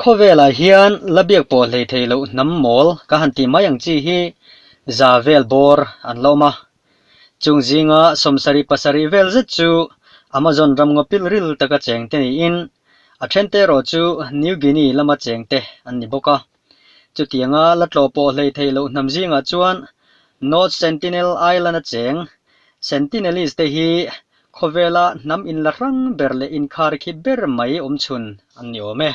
Khawvelah hian la biak pawh hleithei loh hnam mawl ka han ti mai ang chi hi za vel bawr an la awm a, Chung zinga sawmsarih pasarih vel zet chu Amazon ram ngawpil ril taka chengte niin, a then te erawh chu New Guinea lama chengte an ni bawk a. Chutianga la tlawh pawh hlei thei loh hnam zingah chuan North Sentinel Island a cheng. Sentinelese te hi khawvela hnam in la hrang ber leh inkhar khi ber mai awm chhun an ni awm e.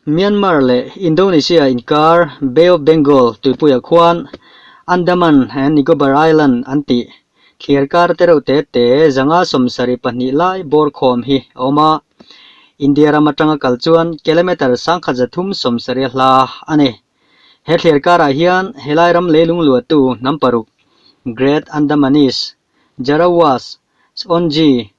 Myanmar leh Indonesia inkar Bay of Bengal tuipuiah khuan Andaman and Nicobar Island an ti. Thliar kar te reuh te te zanga sawmsarih pahnih lai bawr khawm hi a awm a, India ram atanga kal chuan kilometre sangkhat za thum sawmsarih a hla a ni. He thliar karah hian helai ram leilung luattu hnam paruk, Great Andamanese, Jarawahs, Songye,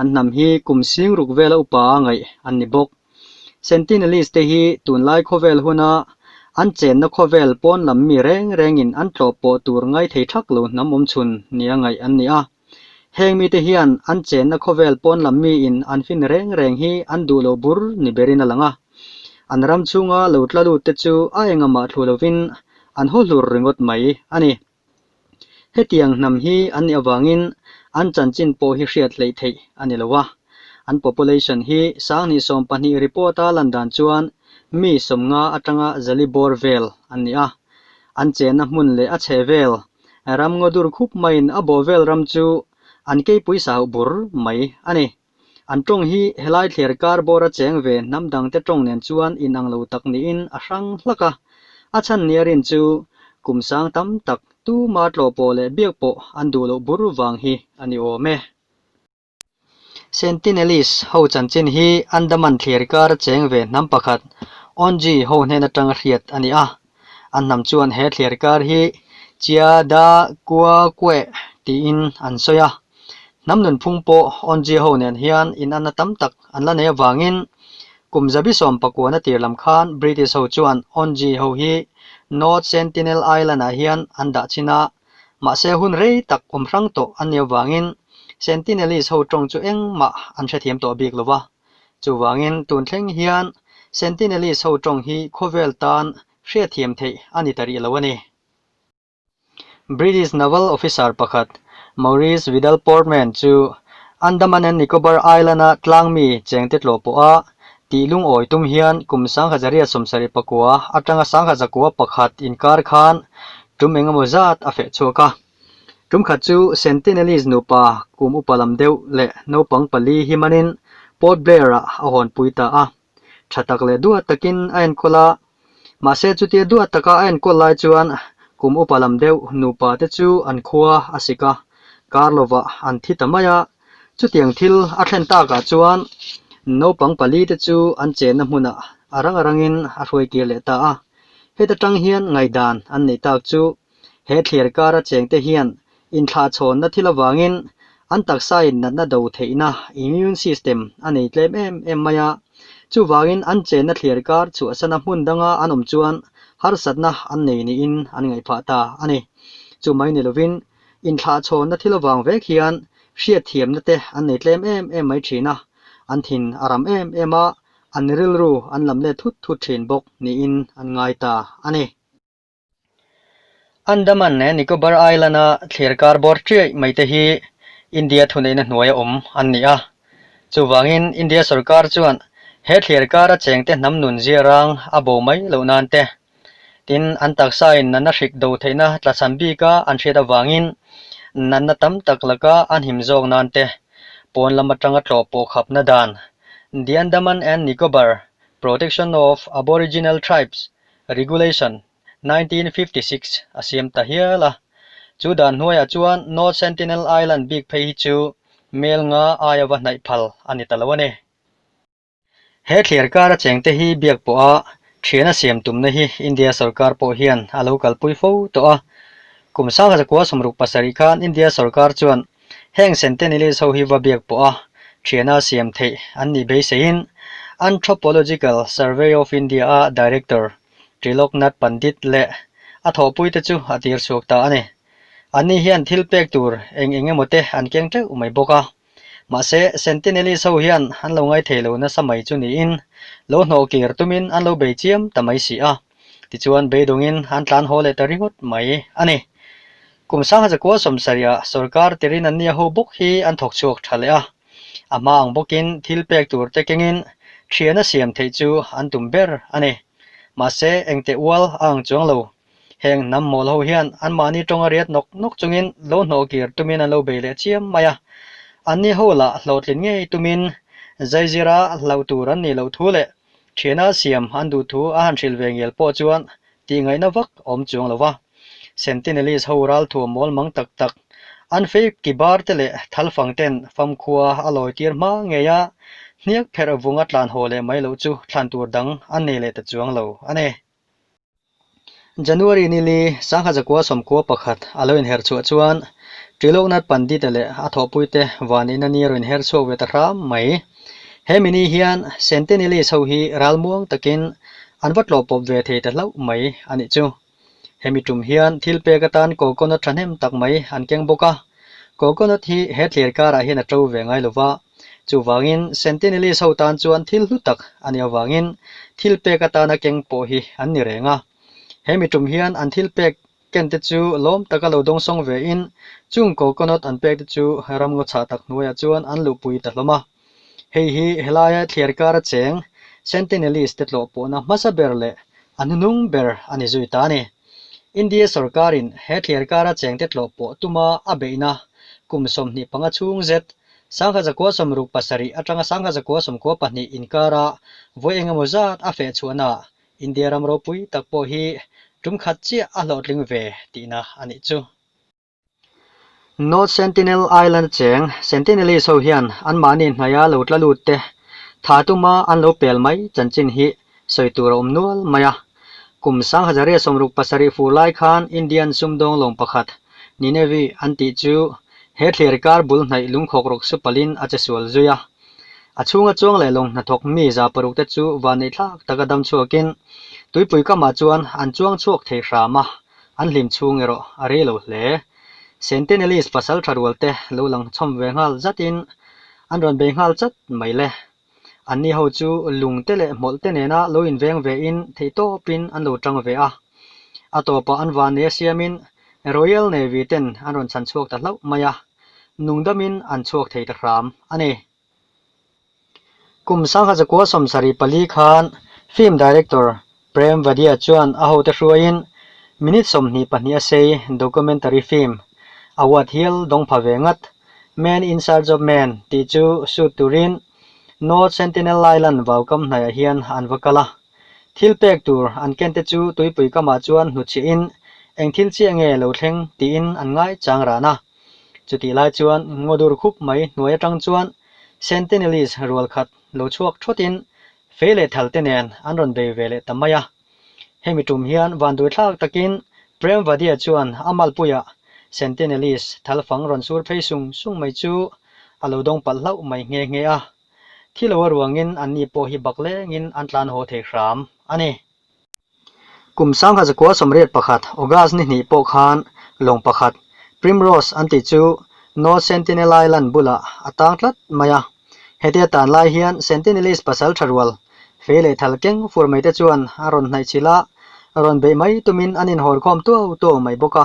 an hnam hi kum sing ruk vela upa a ngaih an ni bawk. Sentinelist-te hi tunlai khawvel huna an chenna khawvel pawn lam mi reng rengin an tlawh pawh tur ngai thei thak lo hnamawm chhun nia ngaih an ni a. Heng mite hian an chenna khawvel pawn lam miin an fin reng reng hi an duh loh bur ni berin a lang a. An ram chhunga lo tla lut te chu a engah mah thlu lovin an haw hlur ringawt mai a ni. Hetiang hnam hi an nih avangin an chanchin pawh hi hriat hleih theih a ni lo a, an population hi Sangni sawm pahnih report a lan dan chuan mi sawmnga atanga zali bawr vel an ni a, an chenna hmun leh a chhe vel ram ngaw dur khup maiin a bawhvel ram chu an kei pui sahauh bur mai a ni. An tawng hi helai thler kar bawra cheng ve hnam dangte tawng nen chuan inang lo tak niin a hrang hlak a. A chhanniarin chu kum sang tam tak, tuma tlaw pawh leh biak pawh an duh loh bur vang hi a ni awm e. Sentinelese ho chanchin hi Andaman thler kar cheng ve hnam pakhat, Onge ho hnen atanga hriat a ni a. An hnam chuan he thliar kar hi Chia Da Kua Kue tiin an sawi a. Hnam nunphung pawh Onjia ho nen hian in anna tam tak an la nei avangin kum zabi sawm pakua na tir lam khan British ho chuan Onjia ho hi North Sentinel Island ah hian an dah chin a, mahse hun rei tak awm hrang tawh an ni avangin Sentinelese ho tawng chu engmah an hrethiam tawh bik lo va. Chuvangin, tun thleng hian Sentinelese ho tawng hi khawvel tan hriatthiam theih a ni ta rih lo a ni. British Naval Officer pakhat Maurice Vidal Portman chu Andaman and Nicobar Island-a tlangmi chengte tlawh pawha tih lungawi tum hian kum sangha zariat sawmsarih pakua atanga sangha zakua pakhat inkar khan tum engemaw zat a feh chhuak a. Tum khat chu Sentinelese nupa kum upa lam deuh leh naupang pali hi manin Port Blair-a a hawn pui ta a, tha tak leh duat takin a enkawl a. Mahse chutia duat taka a enkawl lai chuan kum upa lam deuh nupa te chu an khua a sik a, kar lova an thi ta mai a. Chutiang thil a thlen takah chuan naupang pali te chu an chenna hmunah a rang a rangin a hruai kir leh ta a, heta tang hian ngaihdan an neih tak chu. He thlir kara chengte hian inthlahchhawnna thil avangin an taksa innatna do theihna, immune system, a nei tlem em em mai a. Chuvangin an chenna thlir kar chhuahsana hmun danga an awm chuan harsatna an nei niin an ngaih phah ta a ni. Chu mai ni lovin inthlahchhawnna thil avang vek hian hriatthiamnate an nei tlem em em mai thin a, an thin a ram em em a, an rilru an lam let thut thut thin bawk niin an ngai ta a ni. Andaman leh Nicobar Island-a thlir kar bawr ṭiaih mai te hi India thuneihna hnuaia awm an ni a. Chuvangin India sorkar chuan he thlir kara cheng te hnam nun ziarang a bo mai loh nan te, tin an taksain nana hrik do theihna tlachhan bika an hriat avangin natna tam tak laka an him zawk nan te pawn lam aṭanga tlawp pawh khapna dan The Andaman and Nicobar Protection of Aboriginal Tribes Regulation, nineteen fifty six, a siam ta hial a. Chu dan hnuaiah chuan North Sentinel Island bik phei hi chu Mel nga aia va hnaih phal a ni ta lo a ni. He thlir kar a cheng te hi biak pawha thiana siam tumna hi India sorkar pawh hian a lo kalpui fo tawh a. Kum Sang Zakua sawmruk pasarih khan India sorkar chuan Heng Centennialist ho hi va biak pawh a thiana siam theih an nih beiseiin Anthropological Survey of India-a Director Triloknath Pandit leh a thawhpui te chu a tirchhuak ta a ni. Anni hian thil pek tur eng eng emaw te an keng teuh mai bawk a. Mahse, Centennialist ho hian an lo ngai thei lo nasa mai chu niin lo hnawhkir tumin an lo bei chiam ta mai si a. Tichuan beidawngin an tlan haw leh ta ringawt mai a ni. Kum sanga za kual sawm sarih ah sorkar tirin an nia ho bawk hi an thawk chhuak tha leh a. A hma ang bawkin thil pek tur te kengin thiana siam theih chu an tum ber a ni. Mahse engte ual a ang chuang lo. Heng hnam mawl ho hian anmahni tawnga riat nawk nawk chungin lo hnawh kir tumin an lo bei leh chiam mai a. An nia ho lah hlawhtlin ngei tumin zaizir a hlauh tur an nih loh thu leh Thiana siam an duh thu a han hrilh ve ngial pawh chuan tihngaihna vak a awm chuang lo a. Sentinelese ho ralthuam mawlmang tak tak an fake kibarte leh thalfangten famkhua a lawitir hma ngei a, hniak pherh vunga tlan haw leh mai loh chu thlan tur dang an nei leh ta chuang lo a ni. January ni li Sangha Zakua sawmkua pakhat a lo inher chhuah chuan Triloknath Pandita leh a thawhpuite vanina ni a rawn inher chhuak ve ta hram mai. He mi ni hian Centennialist ho hi ral muang takin an va tlawh pawp ve thei ta hlauh mai a nih chu. He mi tum hian thil pek atan coconut thahnem tak mai an keng bawk a. Coconut hi he tlerkarah hian a to ve ngai lo va, Chuvangin, Sentinelese ho tan chuan thil hlu tak a ni avangin thilpek atana keng pawh hi an ni reng a. He mi ṭum hian an thilpek kente chu lawm taka lo dawng sawng ve in, chung coconut an pek te chu ramngaw chhah tak hnuaiah chuan an luhpui ta hlawm a. Hei hi helai thliar kar a cheng Sentinelese te tlawh pawhna hmasa ber leh a hnunung ber a ni zui ta a ni. India sorkarin he thliar kar a cheng te tlawh pawh tuma a beihna kum sawmhnih panga chhung zet Sangha zakua sawmruk pasarih atanga sangha zakua sawmkua pahnih inkara vawi engemaw zat a feh chhuahnaah India ram ropui tak pawh hi ṭumkhat chiah a hlawhtling ve tihna a nih chu. North Sentinel Island acheng Sentinelese ho hian anmahni hnaia lo tla lut te, tha tuma an lo pel mai chanchin hi sawi tur a awm nual mai a. Kum Sanghazaria sawmruk pasarih fur lai khan Indian sumdawng lawng pakhat, Ninevi, an tih chu he thlir kar bul hnaih lungkhawk ruk su palin a che sual zui a. A chhunga chuang leh lawng hna thawk mi za paruk te chu van neih thlak taka dam chhuakin tuipui kamah chuan an chuang chhuak thei hram a, an hlim chhung erawh a rei lo hle. Sentinelist pasal tha rual te lo lang chhawm ve nghal zatin an rawn bei nghal chat mai le. An ni ho chu lung te leh hmawlh te nena lo inveng ve in theihtawpin an lo ṭang ve a. A tawpah an van leh siamin Royal Navy ten an rawn chhan chhuak ta hlauh mai a, nungdamin an chhuak thei ta hram a ni. Kum Sangha Zakua Sawmsari pali khan Film Director Premvadia chuan a hote hruaiin minute sawmhnih pahnih a sei documentary film award hial dawng pha ve ngat. Men in Search of Men tih chu shoot turin North Sentinel lailan vaukam hnaiah hian an va kal a. Thil pek tur an kente chu tuipui kamah chuan hnu chiahin eng thil chiah nge lo thleng tiin an ngai chang ran a. Chutih lai chuan ngaw dur khup mai hnuai atang chuan Sentinelese rual khat lo chhuak thawtin Fei leh thal te nen an rawn bei ve leh ta mai a. Hemi tum hian vanduithlak takin Premvadia chuan a malpuia Centenalist thal fang rawn sur phei sung sung mai chu a lo dawng palh hlauh mai nghe nghe a. Thilo a ruangin anni pawh hi baklengin an tlan haw thei hram a ni. Kum sangha zakua sawmriat pakhat August ni hnih pawh khan lawng pakhat Primrose an tih chu North Sentinel Island bulah a tang tlat mai a. Hetia tan lai hian Sentinelist pasal tha rual, fei leh thal keng fur mai te chuan a rawn hnaih chhil a, rawn beih mai tumin an inhawl khawm tuau tuau mai bawk a.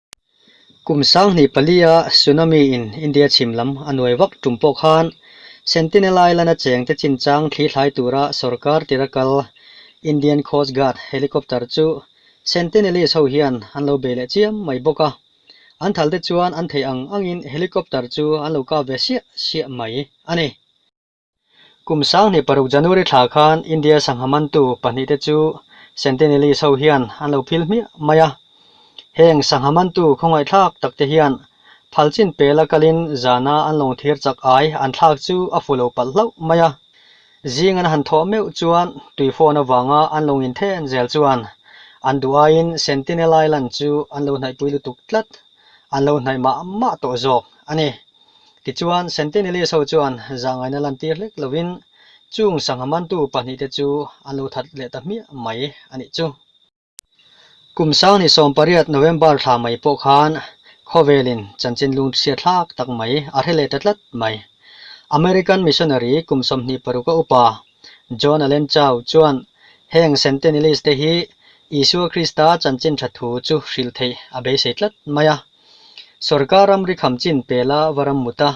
Kum sanghnih palia Tsunami in India chhim lam a nuai vak tum pawh khan Sentinel Island-a chengte chinchang thli thlai tura sorkar tira kal Indian Coast Guard helicopter chu Sentinelese ho hian an lo bei leh chiam mai bawk a. An thalte chuan an theih ang angin helicopter chu an lo kap ve siah siah mai a ni. Kum sanghnih paruk January thla khan India sangha mantu pahnih te chu Centenalys ho hian an lo phil hmiah mai a. Heng sangha mantu khawngaihthlak tak te hian phal chin pel a kal in zana an lawng thir chak ai an thlak chu a fu lo palh hlauh mai a. Zing an han thawh meuh chuan tui fawn avanga an lawng in then zel chuan an duh ai in Centenal Island chu an lo hnaihpui lutuk tlat, an lo hnaih mah mah tawh zawk a ni. Tichuan, Centennialist ho chuan zangaina lan tir hlek lovin chung sangha mantu pahnih te chu an lo that leh ta hmiah mai a nih chu. Kum sang ni sawm pariat November thla mai pawh khan khawvelin chanchin lunghriat thlak tak mai a hre leh ta tlat mai. American missionary kum sawmhnih paruk a upa John Allen Chau chuan heng Centennialist te hi Isua Krista chanchin thathu chu hrilh theih a beisei tlat mai a, Sorkar ram ri kham chin pel a va ram mut a,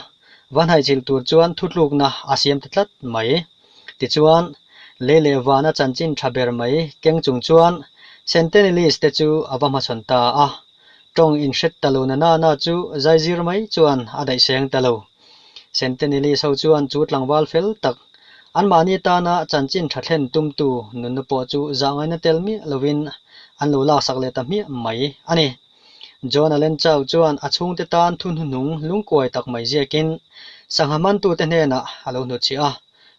va hnaichilh tur chuan thutlukna a siam ta tlat mai. Tichuan, lei leh van a chanchin tha ber mai keng chung chuan Centenalist te chu a va hmachhawn ta a, tawng inhret ta lo na nana chu zaizir mai chuan a daihseng ta lo. Centenalist ho chuan chu tlangval fel tak, anmahni tana chanchin tha thlen tumtu nunna pawh chu zahngaina tel miah lovin an lo laksak leh ta hmiah mai a ni. John-a len chau chuan a chhungte tan thunhnu hnung lungkuai tak mai ziakin sangha hmantute hnenah a lo hnutchhi a,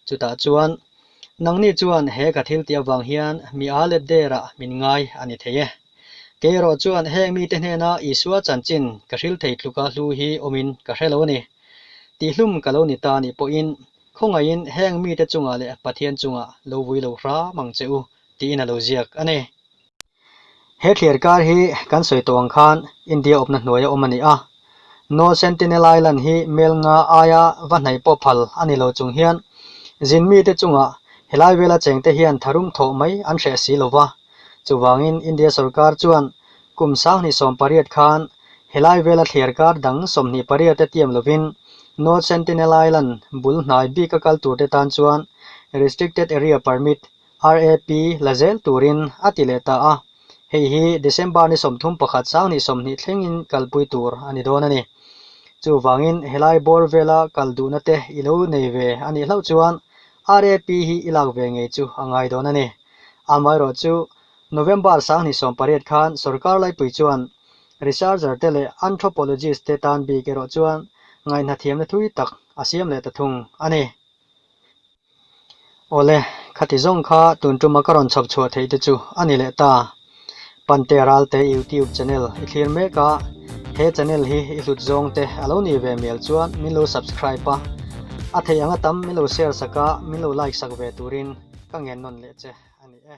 chutah chuan, Nangni chuan he ka thil tih avang hian mi aa let derah min ngai a ni thei e. Keiraw chuan heng mite hnena Isua chanchin ka hril thei tluka hlu hi awmin ka hre lo ni. Tihhlum ka lo ni ta nih pawhin khawngaihin heng mite chungah leh Pathian chungah lo vui lo hram ang che u, tiin a lo ziak a ni. He thlir kar hi kan sawi tawh ang khan India awpna hnuaia awm a ni a. North Sentinel Island hi Melnga aia va hnaih pawh phal a ni lo chung hian zin mite chunga helai vela chengte hian tharum thawh mai an hreh si lo va. Chuvangin India sorkar chuan kum sanghnih sawm pariat khan helai vela thlir kar dang sawmhnih pariat te tiam lovin North Sentinel Island bul hnai bika kal turte tan chuan Restricted Area Permit RAP la zel turin a ti leh ta a, hei hi December ni sawmthum pakhat sang ni sawmhnih thlengin kalpui tur a ni dawn a ni. Chuvangin helai bawr vela kal duhna te i lo nei ve a nih hlauh chuan RAP hi i lak ve ngei chu a ngai dawn a ni. Amaherawh chu, November sang ni sawm pariat khan sorkar laipui chuan researcher te leh anthropologist te tan bik erawh chuan ngaihna thiamna thui tak a siam leh ta thung a ni. Awle, khati zawng kha tun tuma ka rawn chhawp chhuah theih te chu a ni leh ta. Pante Ralte YouTube Channel i thlir mek a, he channel hi i hlut zawng te a lo ni ve mial chuan min lo subscribe a, a theih ang atam min lo share sak a, min lo like sak ve turin ka ngen nawn leh che a ni e.